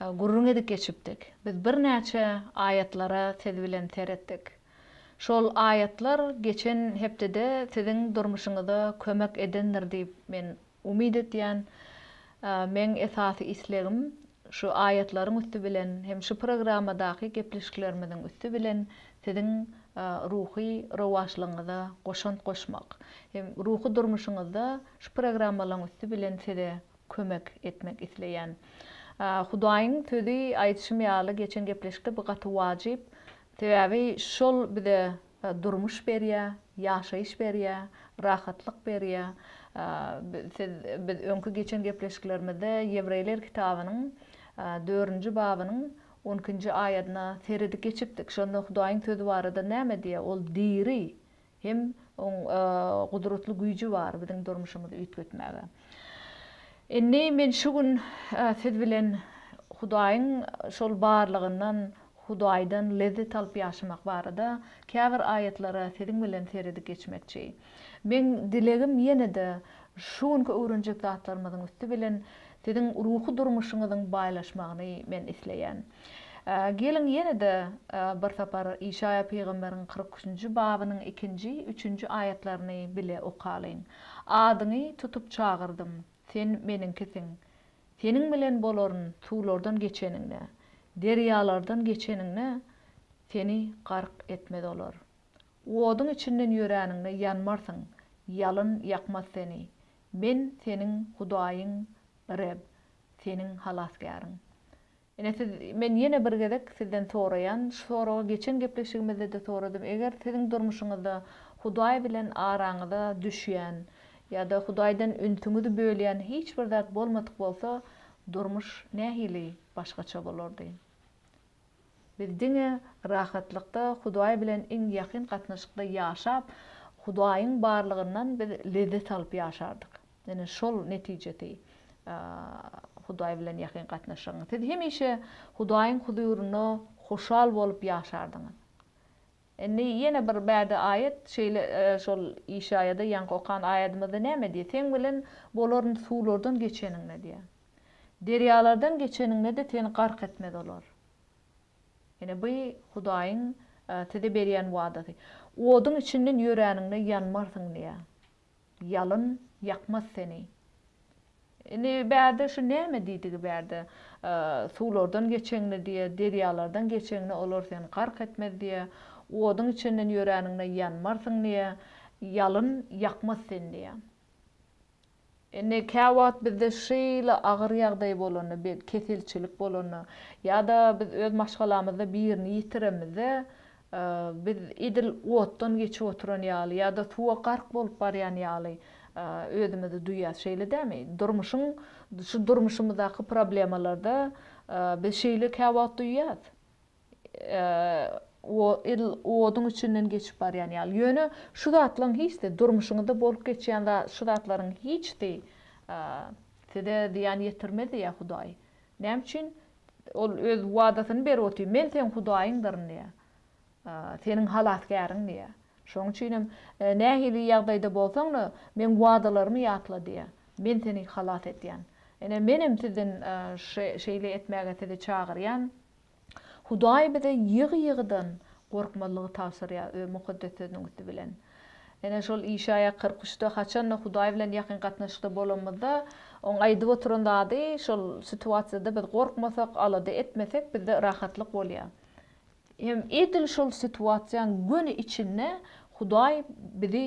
Gürrüň edip geçipdik. Biz birnäçe aýatlara siz bilen seretdik. Şol aýatlar geçen hepdede siziň durmuşyňyza kömek edendir diýip men umyt etýän. Meň esasy islegim şu aýatlaryň üsti bilen hem şu programmadaky gepleşiklerimiziň üsti bilen siziň ruhy rowaçlygyňyza goşant goşmak. Ruhy durmuşyňyzda şu programmalaryň üsti bilen size kömek etmek isleýän. Hudaýyň sözi aýdyşym ýaly geçen gepleşikde bu gaty wajyp. Sebäbi şol bize durmuş berýä, ýaşaýyş berýä, rahatlyk berýä. Siz biz öňki geçen gepleşiklerimizde Ýewreýler kitabynyň dördünji babynyň on ikinji aýadyna seredip geçipdik. Şonda Hudaýyň sözi barada näme diýýär? Ol diri, Hem oň gudratly güýji bar biziň durmuşymyzy üýtgetmäge. Indi men şu gün siz bilen Hudaýyň şol barlygyndan, Hudaýdan lezzet alyp ýaşamak barada käbir aýatlara siziň bilen seredip geçmekçi. Meň dilegim ýene-de şu günki öwrenjek zatlarymyzyň üsti bilen siziň ruhy durmuşyňyzyň baýlaşmagyny men isleýän. Geliň, ýene-de bir sapar Işaýa pygamberiň kyrk üçünji babynyň ikinji, üçünji aýatlaryny bile okalyň. Adyňy tutup çagyrdym, sen Meniňkisiň. Seniň bilen bolaryn suwlardan geçeniňde, derýalardan geçeniňde seni gark etmez olar. Oduň içinden ýöräniňde ýanmarsyň, ýalyn ýakmaz seni. Men seniň Hudaýyň Reb, seniň Halasgäriň. Ine siz, men ýene bir gezek sizden soraýan, şu soragy geçen gepleşigimizde-de soradym, eger siziň durmuşyňyzda Hudaý bilen araňyza düşýän ýa-da Hudaýdan ünsüňizi bölýän hiç bir zat bolmadyk bolsa, durmuş nähili başgaça bolardy? Biz diňe rahatlykda Hudaý bilen iň ýakyn gatnaşykda ýaşap, Hudaýyň barlygyndan biz lezzet alyp ýaşardyk. Ine, şol netijesi Hudaý bilen ýakyn gatnaşygyň. Siz hemişe Hudaýyň huzurynda hoşal bolup ýaşardyňyz. Indi ýene bir bade aýat şeýle şol Işaýada ýaňky okan aýadymyzda näme diýýär? Seň bilen bolaryn suwlardan geçeniňde diýýär. Derýalardan geçeniňde-de seni gark etmez olar. Ine bu Hudaýyň size berýän wadasy. Oduň içinden ýöräniňde ýanmarsyň diýýär. Ýalyn ýakmaz seni. Indi bärde şu näme diýdigi bärde? Suwlardan geçeňde diýýä, derýalardan geçeňde olar seni gark etmez diýýä, oduň içinden ýöräniňde ýanmarsyň diýýä, ýalyn ýakmaz seni diýýä. Indi käwagt bizde şeýle agyr ýagdaý bolanda, bir keselçilik bolanda ýa-da biz öz maşgalamyzda birini ýitirenimizde Biz edil otdan geçip oturan ýaly ýa-da suwa gark bolup barýan ýaly özümizi duýýas, şeýle dämi? Durmuşyň, şu durmuşymyzdaky problemalarda biz şeýle käwagt duýýas. Edil oduň içinden geçip barýan ýaly. Ýöne şu zatlaryň hiç-de, durmuşyňyzda bolup geçýän şu zatlaryň hiç-de size zyýan ýetirmez diýýär Hudaý. Näme üçin? Ol Öz wadasyny berip otyr, Men seň Hudaýyňdyryn diýýär. Seniň Halasgäriň diýýär. Şonuň üçin hem nähili ýagdaýda bolsaň-da, Meň wadalarymy ýatla diýýär. Men seni halas edýän. Ine, men hem sizden şeýle etmäge sizi çagyrýan. Hudaý bize ýygy-ýygydan gorkmazlygy tabşyrýar Öz Mukaddes Sözüniň üsti bilen. Ene şol işä ýakar küşde haçanda Hudaý bilen ýakyn gatnaşykda bolanymyzda, oň aýdyp oturan zady şol situasiýada biz gorkmasak, alada etmesek bizde rahatlyk bolýar. Hem edil şol situasiýaň göni içinde Hudaý bizi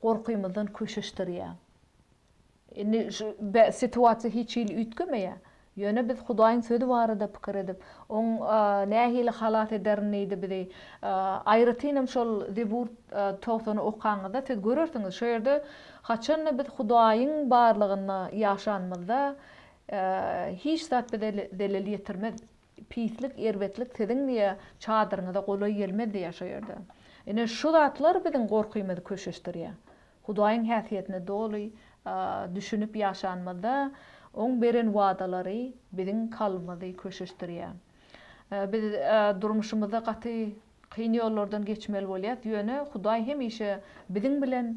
gorkymyzdan köşeşdirýär. Indi şu situasiýa hiç hili üýtgemeýär. Ýöne biz Hudaýyň Sözi barada pikir edip, Oň nähili halas ederin diýdi bizi. Aýratynam şol Zebur togsany okaňyzda, siz görersiňiz, şo ýerde haçan-da biz Hudaýyň barlygynda ýaşanymyzda, hiç zat bize zelel ýetirmez. Pislik, erbetlik siziň diýe çadyryňyza golaý gelmezdi ýa şo ýerde. Ine şu zatlar biziň gorkymyzy köşeşdirýä. Hudaýyň häsiýetine doly düşünip ýaşanymyzda oň beren wadalary biziň kalbymyzy köşeşdirýä. Biz durmuşymyzda gaty Kyn ýollardan geçmeli bolýas ýöne Hudaý hemişe biziň bilen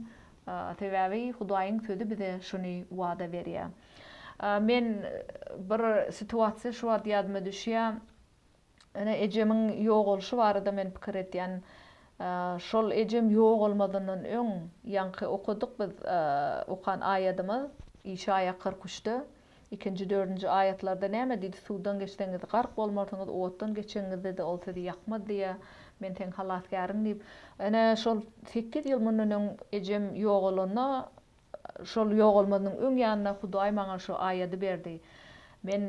sebäbi Hudaýyň sözi bize şuny wada berýär. Men bir situasiýa şu wagt ýadyma düşýär. Ene ejemiň ýogalyşy barada men pikir etýän. Şol ejem ýogalmazyndan öň ýaňky okadyk biz okan aýadymyz Işaýa kyrk üçde. Ikinji, dördünji aýatlarda näme diýdi, suwdan geçseňiz, gark bolmarsyňyz, otdan geçeňiňizde-de ol sizi ýakmaz diýýär, Men seň halasgäriň diýip. Ene, şol sekiz ýyl mundan öň ejem ýogalanda, şol ýogalmazynyň öň ýanynda Hudaý maňa şu aýady berdi. Men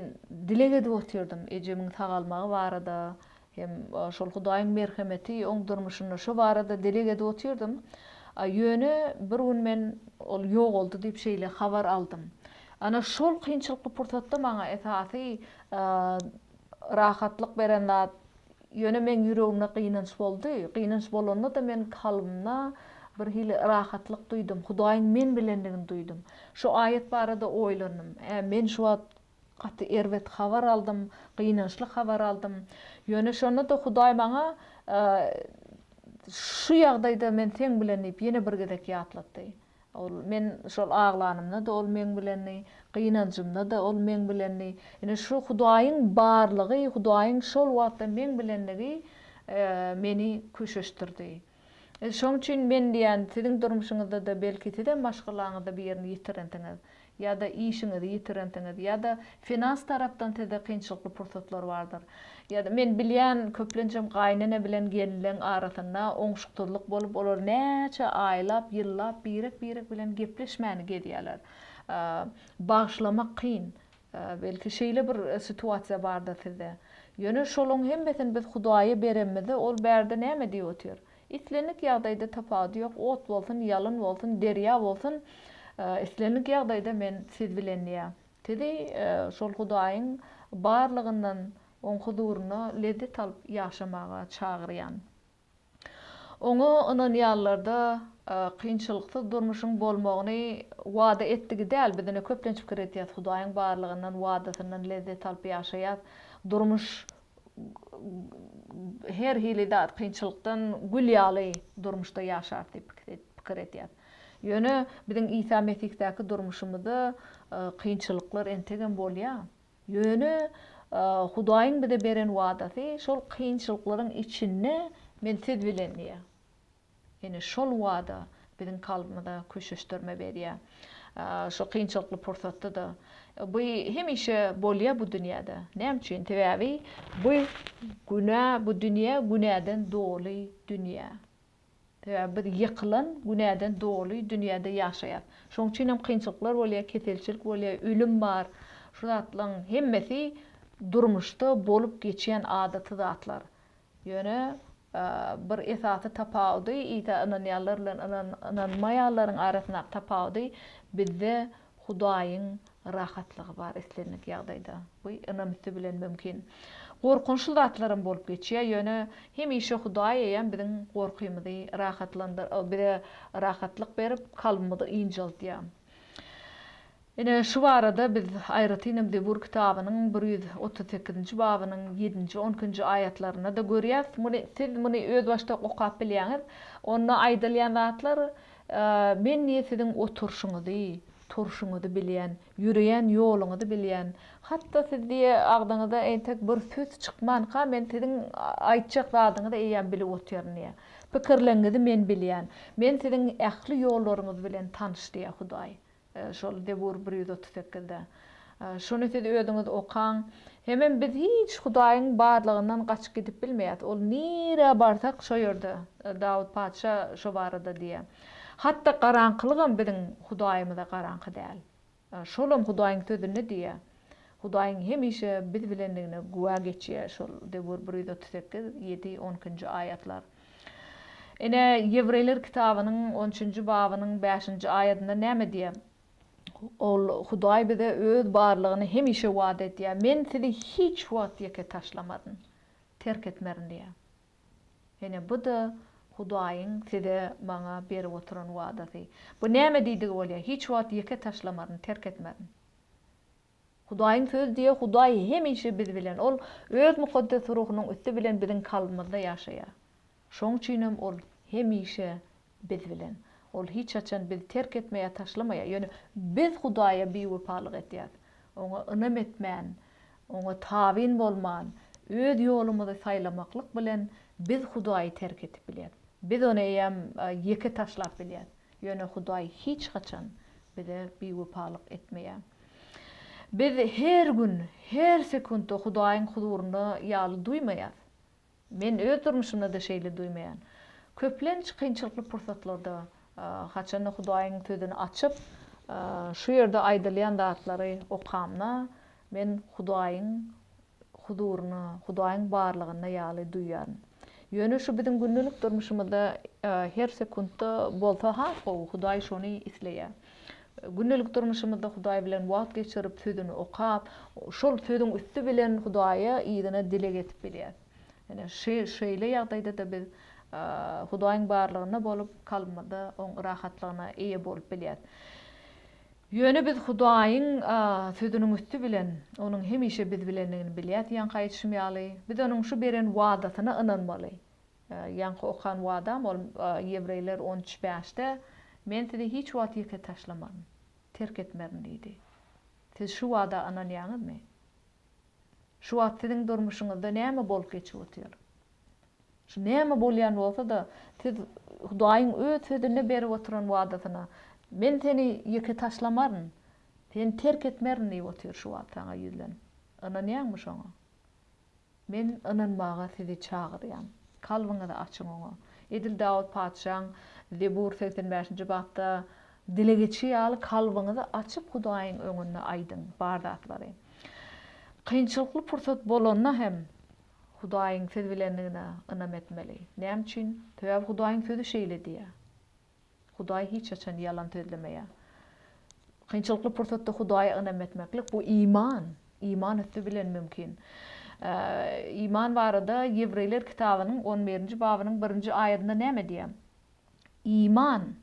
dileg edip otyrdym, ejemiň sagalmagy barada, Hem şol Hudaýyň merhemeti oň durmuşynda şo barada dileg edip otyrdym. Ýöne bir gün men ol ýogaldy diýip şeýle habar aldym. Ana şol kynçylykly pursatda maňa esasy rahatlyk beren zat ýöne meň ýüregimde gynanç boldy. Gynanç bolanda-da men kalbymda bir hili rahatlyk duýdum. Hudaýyň men bilendigini duýdum. Şo aýat barada oýlandym. Hä men şu wagt Gaty erbet habar aldym, gynançly habar aldym. Ýöne şonda-da Hudaý maňa Şu ýagdaýda men seň bilen diýip ýene bir gezek ýatlatdy. Ol men şol aglanymda-da Ol meň bilendi, gynanjymda-da Ol meň bilendi. Ine şu Hudaýyň barlygy, Hudaýyň şol wagtda meň bilendigi meni köşeşdirdi. Şoň üçin men diýýän, siziň durmuşyňyzda-da belki sizem maşgalaňyzda bir ýerini ýitirensiňiz, ýa-da işiňizi ýitirensiňiz, ýa-da finans tarapdan sizde kynçylykly pursatlar bardyr. Ýa-da men bilýän, köplenjem gaýynene bilen gelnileň arasynda oňşuksyzlyk bolup, olar näçe aýlap, ýyllap birek-birek bilen gepleşmäni gezýärler. Bagyşlamak kyn. Belki şeýle bir situasiýa bardyr sizde. Ýöne şolaň hemmesini biz Hudaýa berenimizde ol bärde näme diýip otyr? Islendik ýagdaýda tapawudy ýok, ot bolsun, ýalyn bolsun, derýa bolsun, islendik ýagdaýda men siz bilen diýýär. Sizi şol Hudaýyň barlygyndan oň huzurynda lezzet alyp ýaşamaga çagyrýan. Oňa ynanýanlarda kynçylyksyz durmuşyň bolmagyny wada etdigi däl, biz ine köplenç pikir etýäs, Hudaýyň barlygyndan, wadasyndan lezzet alyp ýaşaýas, durmuş her hili zat kynçylykdan gül ýaly durmuşda ýaşarys diýip pikir etýäs. Ýöne biziň Isa Mesihdäki durmuşymyzda kynçylyklar entegem bolýar. Ýöne Hudaýyň bize beren wadasy şol kynçylyklaryň içinde men siz bilen diýýär. Ine şol wada biziň kalbymyza köşeşdirme berýär. Şu kynçylykly pursatda-da bu hemişe bolýar bu dünýäde. Näme üçin? Sebäbi bu günä bu dünýä günäden doly dünýä. Sebäbi biz ýykylan, günäden doly dünýäde ýaşaýas. Şoň üçin hem kynçylyklar bolýar, keselçilik bolýar, ölüm bar. Şu zatlaň hemmesi durmuşda bolup geçýän adaty zatlar. Ýöne bir esasy tapawudy Isa ynanýanlar bilen ynanmaýanlaryň arasyndaky tapawudy bizde Hudaýyň rahatlygy bar islendik ýagdaýda. Bu ynam üsti bilen mümkin. Gorkunçly zatlaram bolup geçýär, ýöne hemişe Hudaý eýýäm biziň gorkymyzy rahatlandyr, bize rahatlyk berip, kalbymyzy ynjaltýar. Ine, şu barada biz aýratynam Zebur kitabynyň bir ýüz otuz sekizinji babynyň ýedinji, on ikinji aýatlarynda-da görýäs. Muny siz muny özbaşdak okap bilýäňiz. Onda aýdylýan zatlar Men diýe siziň oturşyňyzy, turşuňyzy bilýän, ýöreýän ýoluňyzy bilýän. Hat-da siz diýe agzyňyzdan entek bir söz çykmanka men siziň aýtjak zadyňyzy eýýäm bilip otyryn diýe. Pikirleňňizi men bilýän. Men siziň ähli ýollaryňyz bilen tanyş diýe Hudaý. Şol Zebur bir ýüz otuz sekizde. Şuny siz özüňiz okaň. Hemem biz hiç Hudaýyň barlygyndan gaçyp gidip bilmeýäs. Ol nirä barsak, şo ýerde. Dawut patyşa şo barada diýýär. Hatda garaňkylygam biziň Hudaýymyza garaňky däl. Şolam Hudaýyň sözünde diýýär. Hudaýyň hemişe biz bilendigine güwä geçýär şol Zebur bir ýüz otuz sekiz, ýedi, on ikinji aýatlar. Ine, Ýewreýler kitabynyň on üçünji babynyň bäşinji aýadynda näme diýýär? Ol, Hudaý bize Öz barlygyny hemişe wada edýär, Men sizi hiç wagt ýeke taşlamaryn, terk etmerin diýýär. Ine, bu-da Hudaýyň size, maňa berip oturan wadasy. Bu näme diýdigi bolýar? Hiç wagt ýeke taşlamaryn, terk etmerin. Hudaýyň sözi diýýär, Hudaý hemişe biz bilen. Ol Öz Mukaddes Ruhunyň üsti bilen biziň kalbymyzda ýaşaýar. Şoň üçinem Ol hemişe biz bilen. Ol hiç haçan bizi terk etmeýär ýa taşlamaýar. Ýöne biz Hudaýa biwepalyk edýäris. Oňa ynam etmän, Oňa tabyn bolman, öz ýolumyzy saýlamaklyk bilen biz Hudaýy terk edip bilýäris. Biz Ony eýýäm ýeke taşlap bilýäris. Ýöne Hudaý hiç haçan bize biwepalyk etmeýär. Biz her gün, her sekuntda Hudaýyň huzurynda ýaly duýmaýarys. Men öz durmuşymda-da şeýle duýmaýan. Köplenç kynçylykly pursatlarda, haçanda Hudaýyň Sözüni açyp, şu ýerde aýdylýan zatlary okamda, men Hudaýyň huzuryna, Hudaýyň barlygyna ýaly duýýaryn. Ýöne şu biziň gündelik durmuşymyzda her sekuntda bolsa has gowy, Hudaý şony isleýär. Gündelik durmuşymyzda Hudaý bilen wagt geçirip, Sözüni okap, şol Sözüň üsti bilen Hudaýa yzyna dileg edip bilýäris. Ine, şeýle ýagdaýda-da biz Hudaýyň barlygynda bolup, kalbymyzda Oň rahatlygyna eýe bolup bilýäris. Ýöne biz Hudaýyň Sözüniň üsti bilen Onuň hemişe biz bilendigini bilýäs diýýänki aýdyşym ýaly. Biz Onuň şu beren wadasyna ynanmaly. Ýaňky okan wadam ol Ýewreýler on üç, bäşde, Men sizi hiç wagt ýeke taşlamaryn, terk etmerin diýdi. Siz şu wada ynanýaňyzmy? Şu wagt siziň durmuşyňyzda näme bolup geçip otyr? Şu näme bolýan bolsa-da, siz Hudaýyň öz Sözünde berip oturan wadasyna, Men seni ýeke taşlamaryn, seni terk etmerin diýip otyr şu wagt saňa ýüzlenip. Ynanýaňmy şoňa? Men ynanmaga sizi çagyrýan. Kalbyňyzy açyň Oňa. Edil Dawut patyşaň Zebur segsen bäşinji bapda dile geçi ýaly kalbyňyzy açyp Hudaýyň öňünde aýdyň bar zatlary. Kynçylykly pursat bolanda hem, Hudaýyň siz bilendigine ynam etmeli. Näme üçin? Sebäbi Hudaýyň sözi şeýle diýýär. Hudaý hiç haçan ýalan sözlemeýär. Kynçylykly pursatda Hudaýa ynam etmeklik bu iman, iman üsti bilen mümkin. Iman barada Ýewreýler kitabynyň on birinji babynyň birinji aýadynda näme diýýär? Iman,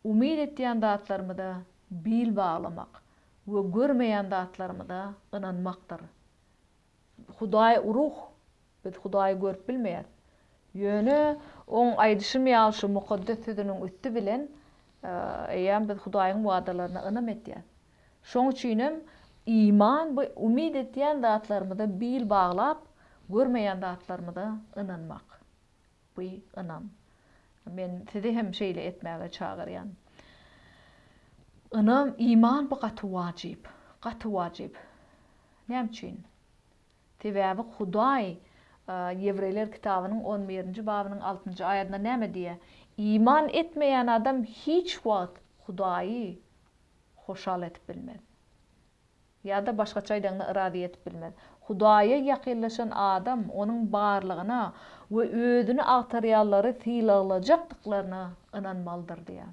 umyt etýän zatlarymyza bil baglamak we görmeýän zatlarymyza ynanmakdyr. Hudaý ruh. Biz Hudaýy görüp bilmeýäs. Ýöne Oň aýdyşym ýaly şu Mukaddes Sözüniň üsti bilen eýýäm biz Hudaýyň wadalaryna ynam etýäs. Şoň üçinem iman bu umyt etýän zatlarymyza bil baglap, görmeýän zatlarymyza ynanmak. Bu ynam. Men sizi hem şeýle etmäge çagyrýan. Ynam, iman bu gaty wajyp. Gaty wajyp. Näme üçin? Sebäbi Hudaý Ýewreýler kitabynyň on birinji babynyň altynjy aýadynda näme diýýär? Iman etmeýän adam hiç wagt Hudaýy hoşal edip bilmez. Ýa-da başgaça aýdaňda yrazy ýetip bilmez. Hudaýa ýakynlaşan adam Onuň barlygyna we özüni agtarýanlary sylaglajakdyklaryna ynanmalydyr diýýär.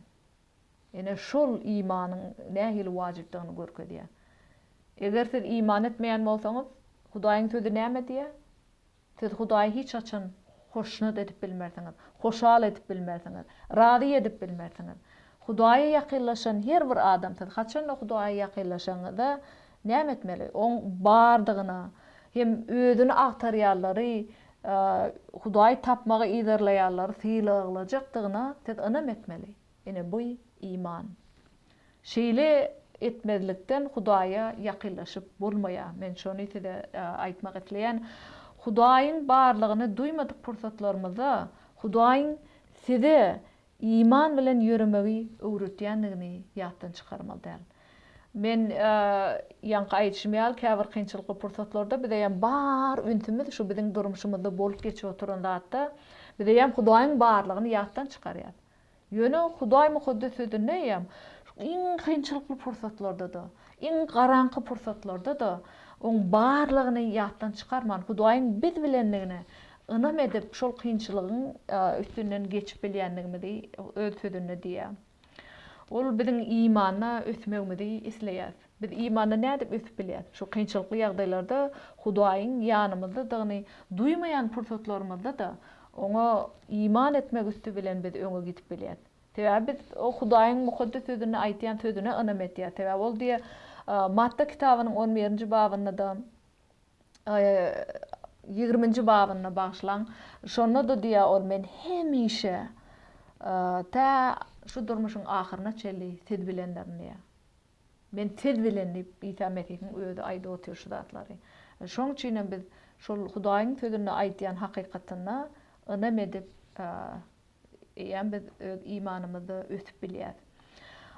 Ine, şol imanyň nähili wajypdygyny görkezýär. Eger siz iman etmeýän bolsaňyz, Hudaýyň Sözi näme diýýär? Siz Hudaýy hiç haçan hoşnut edip bilmersiňiz, hoşal edip bilmersiňiz, razy edip bilmersiňiz. Hudaýa ýakynlaşan her bir adam siz haçanda Hudaýa ýakynlaşanyňyzda näme etmeli? Oň bardygyna hem özüni agtarýanlary, Hudaýy tapmagy yzarlaýanlary sylaglajakdygyna siz ynam etmeli. Ine bu iman. Şeýle etmezlikden Hudaýa ýakynlaşyp bolmaýa. Men şony size aýtmak isleýän. Hudaýyň barlygyny duýmadyk pursatlarymyzda Hudaýyň size iman bilen ýöremegi öwretýändigini ýatdan çykarmaly däl. Men ýaňky aýdyşym ýaly käbir kynçylykly pursatlarda bizeýem bar ünsümiz şu biziň durmuşymyzda bolup geçip oturan zatda bizeýem Hudaýyň barlygyny ýatdan çykarýas. Ýöne Hudaý Mukaddes Sözünde eýýäm iň kynçylykly pursatlarda-da, iň garaňky pursatlarda-da oň barlygyny ýatdan çykarman, Hudaýyň biz bilendigine ynam edip, şol kynçylygyň üstünden geçip bilýändigimizi Öz Sözünde diýýär. Ol biziň imanda ösmegimizi isleýär. Biz imanda nädip ösüp bilýäris? Şu kynçylykly ýagdaýlarda Hudaýyň ýanymyzdadygyny duýmaýan pursatlarymyzda-da, Oňa iman etmek üsti bilen biz öňe gidip bilýäris. Sebäbi biz Hudaýyň Mukaddes Sözünde aýtýan sözüne ynam etýäris. Sebäbi Ol diýýär, Matta kitabynyň on birinji babynda-da, ýigriminji babynda, bagyşlaň, şonda-da diýýär Ol, Men hemişe, tä şu durmuşyň ahyryna çenli siz bilendirin diýýär. Men tez bilen diýip, Isa Mesihiň özi aýdyp otyr şu zatlary. Şoň üçinem biz şol Hudaýyň sözünde aýdýan hakykatyna ynam edip, eýýäm biz öz imanymyzda ösüp bilýäs.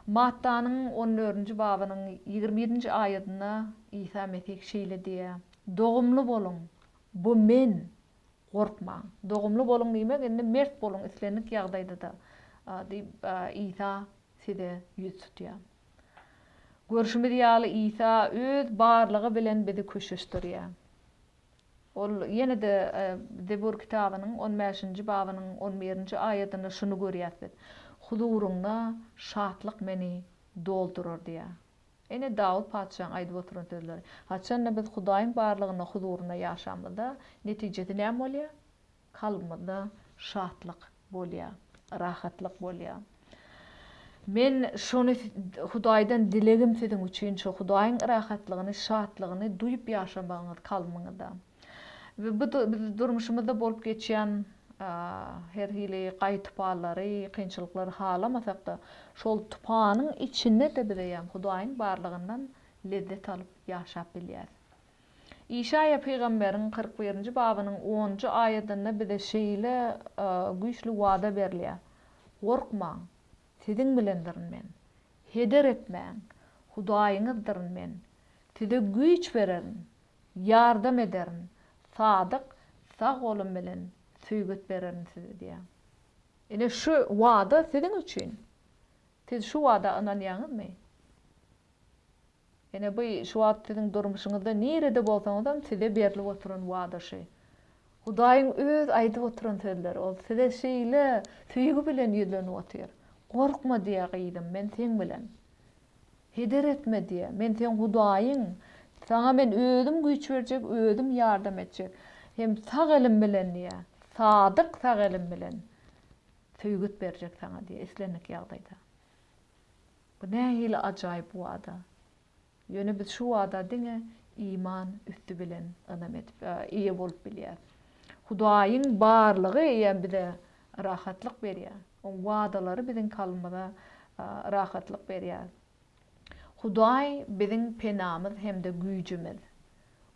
Mattanyň on dördünji babynyň ýigrimi ýedinji aýadynda Isa Mesih şeýle diýýär, Dogumly boluň, bu Men, gorkmaň. Dogumly boluň diýmek, indi mert boluň islendik ýagdaýda-da diýip, Isa Size ýüz tutýan. Görşümiz ýaly Isa öz barlygy bilen bizi köşeşdirýär. Ol ýene-de Zebur kitabynyň on bäşinji babynyň on birinji aýadynda şuny görýäs biz, Huzuryňda şatlyk meni doldurar diýýär. Ene Dawut patyşaň aýdyp oturan sözleri. Haçanda biz Hudaýyň barlygynda, huzurynda ýaşamyzda netijesi näme bolýar? kalbymyzda şatlyk bolýar, rahatlyk bolýar. Men şony Hudaýdan dilegim siziň üçin şu, Hudaýyň rahatlygyny, şatlygyny duýup ýaşamagyňyz kalbymyňyzda. We bu durmuşymyzda bolup geçýän her hili gaý-tupallary, kynçylyklary halamasak-da, şol tupanyň içinde-de bize ýa Hudaýyň barlygyndan lezzet alyp ýaşap bilýäris. Işaýa pygamberiň kyrk birinji babynyň onunjy aýadynda bize şeýle güýçli wada berilýär, Gorkmaň! Siziň bilendirin Men. Heder etmäň! Hudaýyňyzdyryn Men. Size güýç bererin, ýardam ederin, sadyk sag golum bilen söýget bererin size diýýär. Ine, şu wada siziň üçin. Siz şu wada ynanýaňyzmy? Ene bu şu wagt siziň durmuşyňyzda nirede bolsaňyzam size berlip oturan wada şü. Hudaýyň öz aýdyp oturan sözleri ol size şeýle söýgi bilen ýüzlenip otyr. Gorkma diýýä gyzym men seň bilen. Heder etme diýýä men seň Hudaýyň. Saňa men özüm güýç berjek özüm ýardam etjek. Hem sag elim bilen diýýä sadyk sag elim bilen söýgüt berjek saňa diýýä islendik ýagdaýda. Bu nähili ajaýyp wada! Ýöne biz şu wada diňe iman üsti bilen ynam edip, eýe bolup bilýäris. Hudaýyň barlygy eýýäm bize rahatlyk berýär. Oň wadalary biziň kalbymyza rahatlyk berýär. Hudaý biziň penamyz hem-de güýjümiz.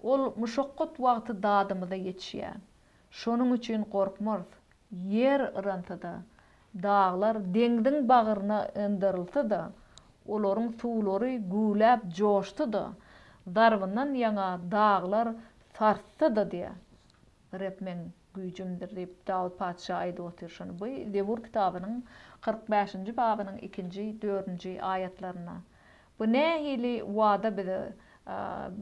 Ol muşakgat wagty dadymyza ýetişýär. Şonuň üçin gorkmarys. Ýer yransa-da, daglar deňziň bagryna yndarylsa-da, olaryň suwlary güwläp joşsa-da, zarbyndan ýaňa daglar sarssa-da diýýär. Reb meň güýjümdir diýip, Dawut patyşa aýdyp otyr şony. Bu Zebur kitabynyň kyrk bäşinji babynyň ikinji, dördünji aýatlarynda. Bu nähili wada bize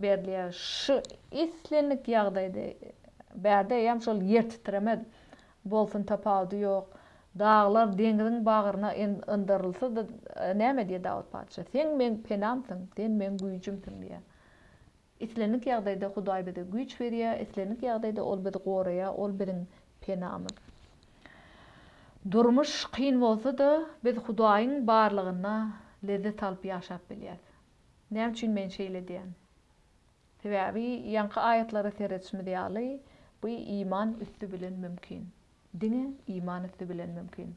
berilýär? Şu islendik ýagdaýda bärde eýýäm şol ýer titremez. Bolsun tapawudy ýok. Daglar deňziň bagryna yndarylsa-da näme diýer Dawut patyşa? Seň meň penamsyň, sen meň güýjümsiň diýer. Islendik ýagdaýda Hudaý bize güýç berýär, islendik ýagdaýda Ol bizi goraýar, Ol biziň penamyz. Durmuş kyn bolsa-da, biz Hudaýyň barlygynda lezzet alyp ýaşap bilýäris. Näme üçin men şeýle diýýän? Sebäbi ýaňky aýatlara seredişimiz ýaly, bu iman üsti bilen mümkin. Diňe iman üsti bilen mümkin.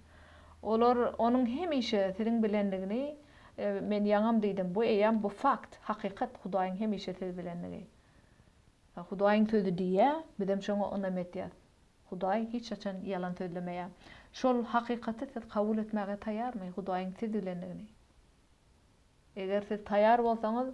Olar Onuň hemişe siziň bilendigini Men ýaňam diýdim, bu eýýäm bu fakt, hakykat, Hudaýyň hemişe siz bilendigi. Hudaýyň sözi diýýär, bizem şoňa ynam edýäs. Hudaý hiç haçan ýalan sözlemeýär. Şol hakykaty siz kabul etmäge taýarmy, Hudaýyň siz bilendigini? Eger siz taýýar bolsaňyz,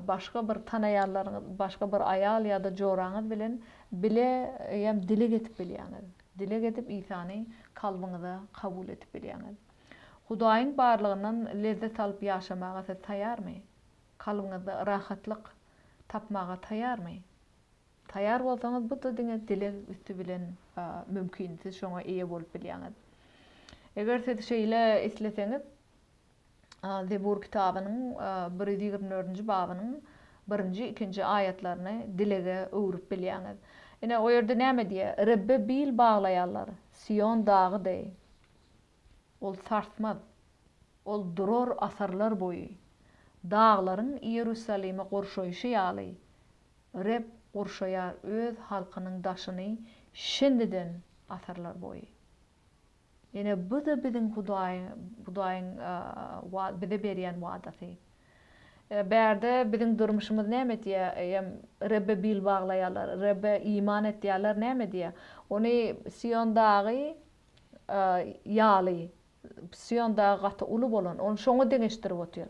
başga bir tanaýanlaryňyz, başga bir aýal ýa-da joraňyz bilen bile hem dileg edip bilýäňiz. Dileg edip Isany kalbyňyza kabul edip bilýäňiz. Hudaýyň barlygyndan lezzet alyp ýaşamaga siz taýýarmy? Kalbyňyzda rahatlyk tapmaga taýýarmy? Taýýar bolsaňyz bu-da diňe dileg üsti bilen mümkin, siz şoňa eýe bolup bilýäňiz. Eger siz şeýle isleseňiz, Zebur kitabynyň bir ýüz ýigrimi dördünji babynyň birinji, ikinji aýatlaryny dilege öwrüp bilýäňiz. Ine, o ýerde näme diýýär? Rebbe bil baglaýanlar Sion dagy deý. Ol sarsmaz. Ol durar asyrlar boýy. Daglaryň Iýerusalimi gurşaýşy ýaly, Reb gurşaýar Öz halkynyň daşyny şindiden asyrlar boýy. Ýöne bu-da biziň Hudaýyň bize berýän wadasy. Bärde biziň durmuşymyz näme diýýär? Rebbe bil baglaýarlar, Rebbe iman et diýýärler, näme diýýär? Ony Sion dagy ýaly, Sion dagy gaty uly bolan, ony şoňa deňeşdirip otyr.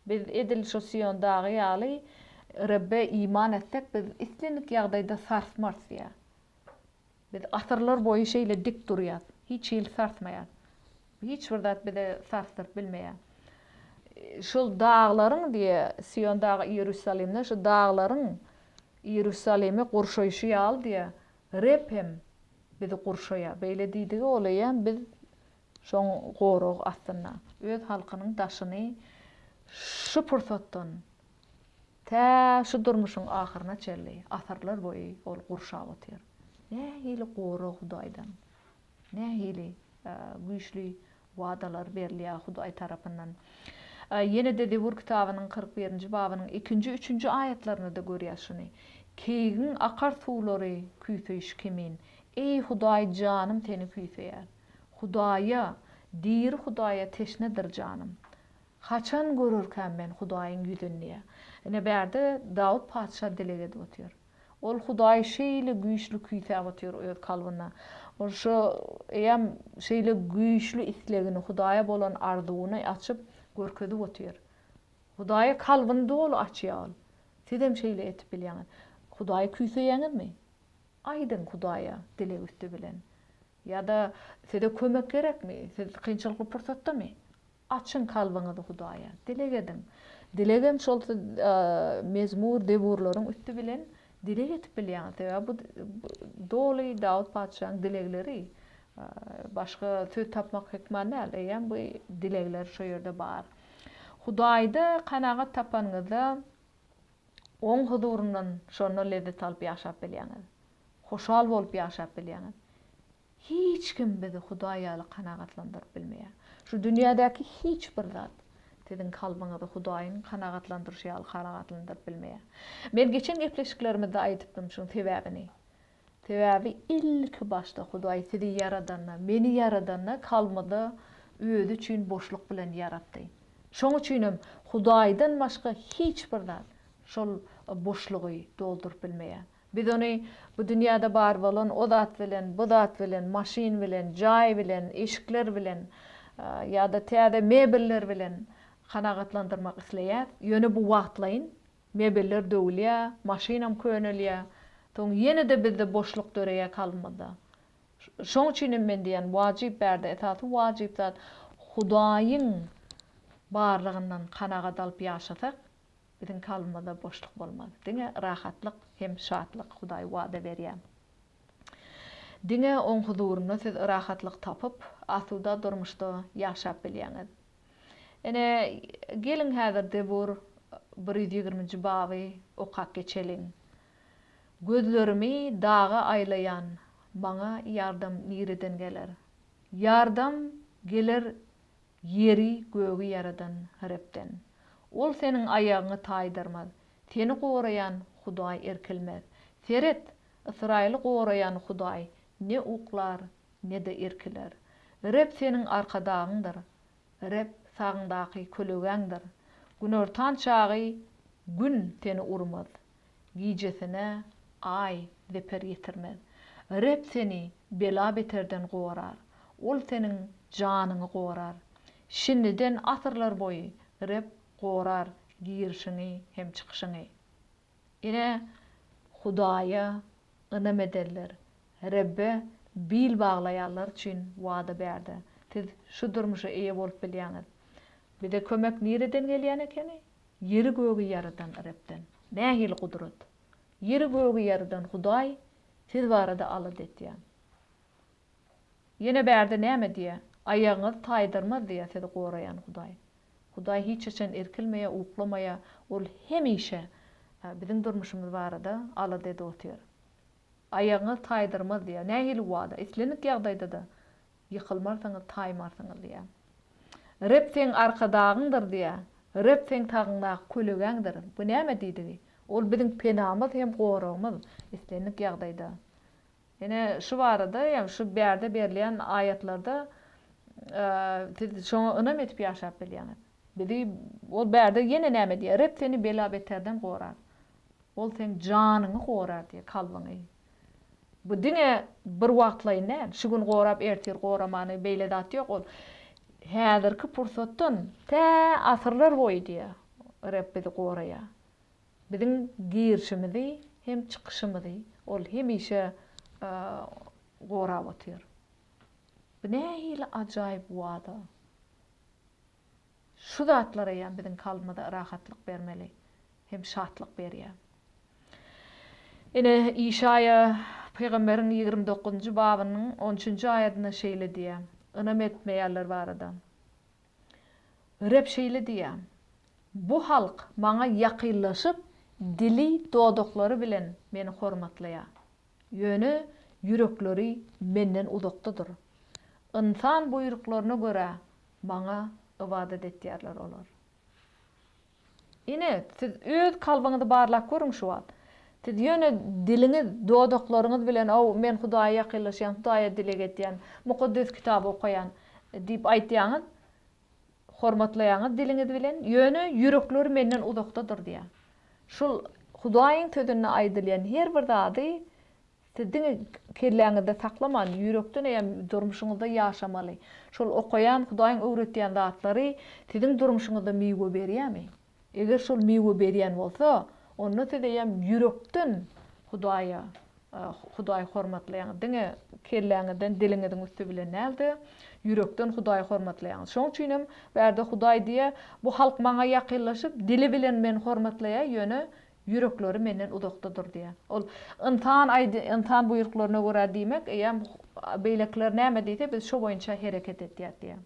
Biz edil şu Sion dagy ýaly Rebbe iman etsek, biz islendik ýagdaýda sarsmarys diýýär. Biz asyrlar boýy şeýle dik durýas, hiç hili sarsmaýas. Hiç bir zat bizi sarsdyryp bilmeýä. Şol daglaryň, diýýär, Sion dagy Iýerusalimden şu daglaryň Iýerusalimi gurşaýşy ýaly, diýýär, Reb hem bizi gurşaýar. Beýle diýdigi golaýam biz şoň goragy astynda. Öz halkynyň daşyny şu pursatdan. Tä şu durmuşyň ahyryna çenli asyrlar boýy ol gurşap otyr. Nähili gorag Hudaýdan, nähili güýçli wadalar berilýär Hudaý tarapyndan. Ýene-de Zebur kitabynyň kyrk birinji babynyň ikinji, üçünji aýatlarynda-da görýäs şuny. Keýigiň akar suwlary küýseýşi kimin, eý, Hudaý, janym Seni küýseýär. Hudaýa, diri Hudaýa teşnedir janym. Haçan görerkäm men Hudaýyň ýüzüni diýýär. Ine, bärde Dawut patyşa dileg edip otyr. Ol Hudaýy şeýle güýçli küýsäp otyr öz kalbynda. Ol şu eýýäm şeýle güýçli islegini, Hudaýa bolan arzuwyny açyp, görkezip otyr. Hudaýa kalbyny doly açýar ol. Sizem şeýle etip bilýäňiz. Hudaýy küýseýäňizmi? Aýdyň Hudaýa dileg üsti bilen. Ýa-da size kömek gerekmi? Siz kynçylykly pursatdamy? Açyň kalbyňyzy Hudaýa, dileg ediň. Dilegem şol mezmur, zebur-laryň üsti bilen dileg edip bilýäňiz. Sebäbi bu doly Dawut patyşanyň dilegleri. Başga söz tapmak hökman däl, eýýäm bu dilegler şo ýerde bar. Hudaýda kanagat tapanyňyzda Oň huzuryndan şonda lezzet alyp ýaşap bilýäňiz. Hoşal bolup ýaşap bilýäňiz. Hiç kim bizi Hudaý ýaly kanagatlandyryp bilmeýär. Şu dünýädäki hiç bir zat siziň kalbyňyzy Hudaýyň kanagatlandyryşy ýaly kanagatlandyryp bilmeýär. Men geçen gepleşiklerimizde aýdypdym şuň sebäbini. Sebäbi ilki başda Hudaý sizi ýaradanda, meni ýaradanda kalbymyzy Özi üçin boşluk bilen ýaratdy. Şoň üçinem Hudaýdan başga hiç bir zat şol boşlugy dolduryp bilmeýär. Biz ony bu dünýäde bar bolan o zat bilen, bu zat bilen, maşyn bilen, jaý bilen, eşikler bilen ýa-da täze mebeller bilen kanagatlandyrmak isleýäs. Ýöne bu wagtlaýyn. Mebeller döwülýär, maşynam könelýär. Soň ýene-de bizde boşluk döreýär kalbymyzda. Şoň üçin hem men diýýän, wajyp bärde esasy wajyp zat Hudaýyň barlygyndan kanagat alyp ýaşasak, Biziň kalbymyzda boşluk bolmaz. Diňe rahatlyk hem şatlyk Hudaý wada berýär. Diňe Oň huzurynda siz rahatlyk tapyp, asuda durmuşda ýaşap bilýäňiz. Ine, geliň häzir Zebur bir ýüz ýigriminji baby okap geçeliň. Gözlerimi daga aýlaýan, maňa ýardam nireden geler? Ýardam geler Ýeri, gögi ýaradan Rebden. Ol seniň aýagyňy taýdarmaz. Seni goraýan Hudaý irkilmez. Seret, Ysraýyly goraýan Hudaý ne uklar, ne-de irkiler. Reb seniň arkadagyňdyr. Reb sagňdaky kölegäňdir. Günortan çagy Gün seni urmaz. Gijesine Aý zeper ýetirmez. Reb seni bela-beterden gorar. Ol seniň janyňy gorar. Şindiden asyrlarboýy Reb gorar girişiňi hem çykyşyňy. Ine, Hudaýa ynam edenler, Rebbe bil baglaýanlar üçin wada bärde. Siz şu durmuşa eýe bolup bilýäňiz. Bize kömek nireden gelýän ekeni? Ýeri-gögi ýaradan Rebden nähili gudrat? Ýeri-gögi ýaradan Hudaý siz barada alada etýär. Ýene bärde näme diýýär? Aýagyňyz taýdyrmaz diýýär sizi goraýan Hudaý. Hudaý hiç haçan irkilmeýär, uklamaýar. Ol hemişe biziň durmuşymyz barada alada edip otyr. Aýagyňyz taýdyrmaz diýýär. Nähili wada? Islendik ýagdaýda-da ýykylmarsyňyz, taýmarsyňyz diýýär. Reb seň Arkadagyňdyr diýýär. Reb seň tagyňdaky kölegäňdir. Bu näme diýdigi? Ol biziň penamyz hem goragymyz, islendik ýagdaýda. Ine, şu barada hem şu bärde berilýän aýatlarda siz şoňa ynam edip ýaşap bilýäňiz. Bizi Ol bärde ýene näme diýýär? Reb seni bela-beterden gorar. Ol seň janyňy gorar diýýär, kalbyňy. Bu diňe bir wagtlaýyn däl. Şu gün gorap, ertir goramany, beýle zat ýok. Ol häzirki pursatdan tä asyrlar boýy diýýär, Reb bizi goraýar. Biziň girişimizi hem çykyşymyzy Ol hemişe gorap otyr. Bu nähili ajaýyp wada! Şu zatlar eýýäm biziň kalbymyza rahatlyk bermeli hem şatlyk berýär. Ine, Işaýa pygamberiň ýigrimi dokuzynjy babynyň on üçünji aýadynda şeýle diýýär, ynam etmeýänler barada, Reb şeýle diýýär, Bu halk Maňa ýakynlaşyp, dili, dodaklary bilen Meni hormatlaýar. Ýöne ýürekleri Menden uzakdadyr. Ynsan buýruklaryna görä Maňa ybadat etýärler olar. Ine, siz öz kalbyňyzy barlap görüň şu wagt. Siz ýöne diliňiz, dodaklaryňyz bilen, O, men Hudaýa ýakynlaşýan, Hudaýa dileg edýän, Mukaddes Kitaby okaýan diýip aýtýaňyz. hormatlaýaňyz diliňiz bilen, ýöne ýürekleri menden uzakdadyr diýýär. Şul Hudaýyň sözünde aýdylýan her bir zady siz diňe kelläňizde saklaman, ýürekden eýýäm durmuşyňyzda ýaşamaly. Şol okaýan, Hudaýyň öwretýän zatlary siziň durmuşyňyzda miwe berýärmi? Eger şol miwe berýän bolsa, onda siz eýýäm ýürekden Hudaýa, Hudaýy hormatlaýaňyz. Diňe kelläňizden, diliňiziň üsti bilen däl-de, ýürekden Hudaýy hormatlaýaňyz. Şoň üçin hem bärde Hudaý diýýär, Bu halk Maňa ýakynlaşyp, dili bilen Meni hormatlaýar, ýöne ýürekleri Menden uzakdadyr diýýär. Ol ynsan ynsan buýruklaryna görä diýmek, eýýäm beýlekiler näme diýse, biz şo boýunça hereket edýäris diýýär.